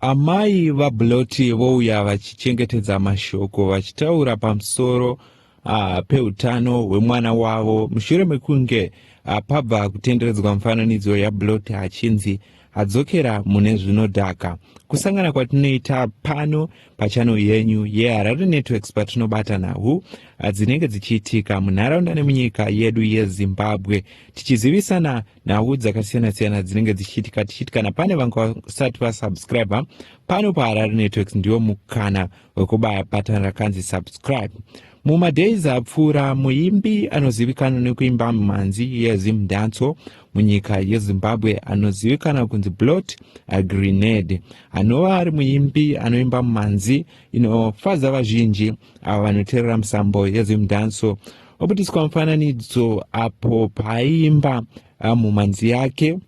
Amai vaBloti vouya vachichengetedza mashoko vachitaura pamusoro uh, peutano hwemwana wavo mushure mekunge uh, pabva kutenderedzwa mufananidzo yaBloti achinzi adzokera mune zvinodhaka. Kusangana kwatinoita pano pachano yenyu yeHarare yeah, Networks patinobata nhau ah, dzinenge dzichiitika munharaunda nemunyika yedu yeZimbabwe tichizivisana nhau dzakasiyana siyana dzinenge dzichiitika tichiti kana pane vanga vasati vasubscribe pano paharare networks ndiwo mukana wekubaya batan rakanzi subscribe mumadays apfuura muimbi anozivikanwa nekuimba mhanzi yezimdanso munyika yezimbabwe anozivikanwa kunzi blot agrenade anova ari muimbi anoimba mhanzi inofadza vazhinji avo vanoteerera musambo yezimdanso Wabudiswa mufananidzo apo paaimba ah, mumhanzi yake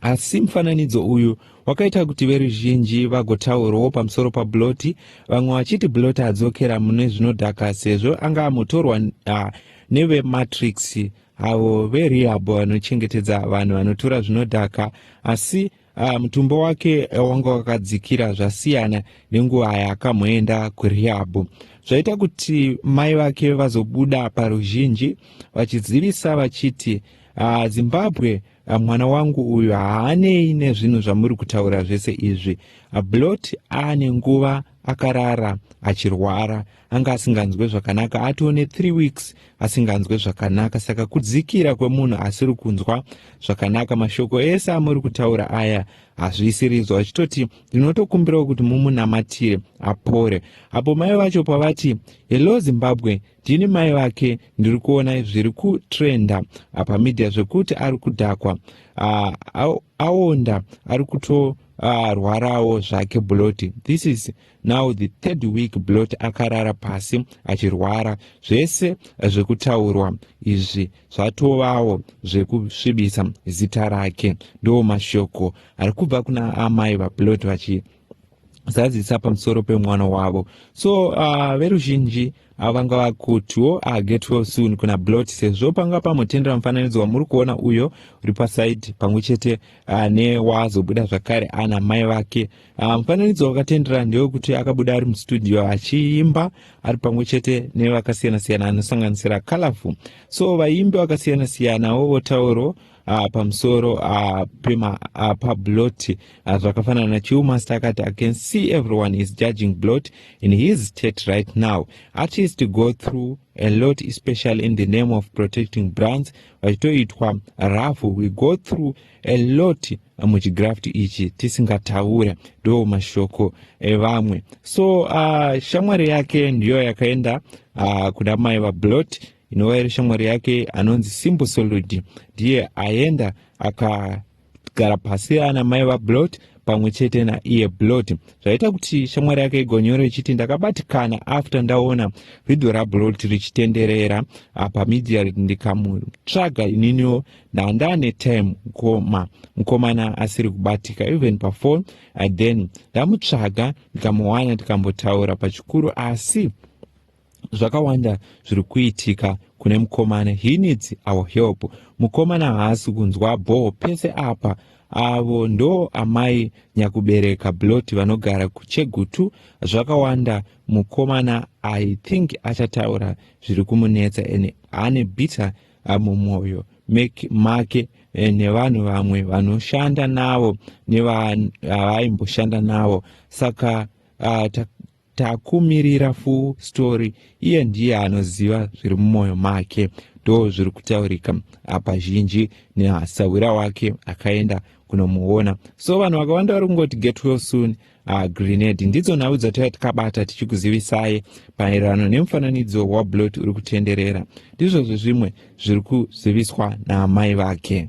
asi mufananidzo uyu wakaita kuti veruzhinji vagotaurawo pamusoro pabloti vamwe vachiti bloti adzokera mune zvinodhaka sezvo anga amotorwa ah, nevematrix avo verehab vanochengetedza vanhu vanotora zvinodhaka asi Uh, mutumbo wake eh, wanga wakadzikira zvasiyana nenguva yaakamboenda kurihabhu zvaita kuti mai vake vazobuda paruzhinji vachizivisa vachiti uh, zimbabwe uh, mwana wangu uyu haanei nezvinhu zvamuri kutaura zvese izvi uh, blot aane nguva akarara achirwara anga asinganzwe zvakanaka atiwo ne3 weeks asinganzwe zvakanaka saka kudzikira kwemunhu asiri kunzwa zvakanaka mashoko ese amuri kutaura aya hazviisiridzwa achitoti ndinotokumbirawo kuti mumunamatire apore apo mai vacho pavati hello zimbabwe ndini mai vake ndiri kuona zviri kutrenda apa media zvekuti ari kudhakwa ah, aonda ari kutorwarawo zvake buloti this is now the third week blot akarara pasi achirwara zvese zvekutaurwa izvi zvatovawo zvekusvibisa zita rake ndo mashoko ari kubva kuna amai vablot vachi zazisa pamusoro pemwana wavo so uh, veruzhinji uh, vanga vakutiwo uh, get well soon kuna blot sezvo panga pamotendera mufananidzo wamuri kuona uyo uri pasaidi pamwe chete uh, newazobuda zvakare ana mai vake Ah, mufananidzo um, wakatendera ndewekuti akabuda ari mustudio achiimba ari pamwe chete nevakasiyana siyana anosanganisira colorful so vaimbi vakasiyana siyanawo votauro uh, pamusoro uh, pema uh, pablot uh, zvakafanana uh, nachiumaster akati i can see everyone is judging blot in his state right now artist go through a lot especially in the name of protecting brands vachitoitwa rafu we go through a lot muchigraft ichi tisingataure ndo mashoko evamwe so uh, shamwari yake ndiyo yakaenda uh, kuna mai vablot inova iri shamwari yake anonzi simbo soludi ndiye aenda akagara pasi ana mai vablot pamwe chete naiye blot zvaita kuti shamwari yake igonyore ichiti ndakabatikana after ndaona vhidho rablot richitenderera ah, pamidia ndikamutsvaga ininiwo ndandane time mkoma mkomana asiri kubatika even pafon uh, then ndamutsvaga ndikamuwana tikambotaura pachikuru asi zvakawanda zviri kuitika kune mukomana he needs our help mukomana haasi kunzwa bhoo pese apa avo ndo amai nyakubereka bloti vanogara kuchegutu zvakawanda mukomana i think achataura zviri kumunetsa and ane bitter mumwoyo make eh, nevanhu vamwe vanoshanda navo nevaimboshanda navo saka ah, takumirira full story iye ndiye anoziva zviri mumwoyo make ndo zviri kutaurika apa zhinji nehasahwira wake akaenda kunomuona so vanhu vakawanda vari kungoti get well soon uh, grenade ndidzo nhau dzataiva tikabata tichikuzivisai maererano nemufananidzo wablot uri kutenderera ndizvo zvezvimwe zviri kuziviswa naamai vake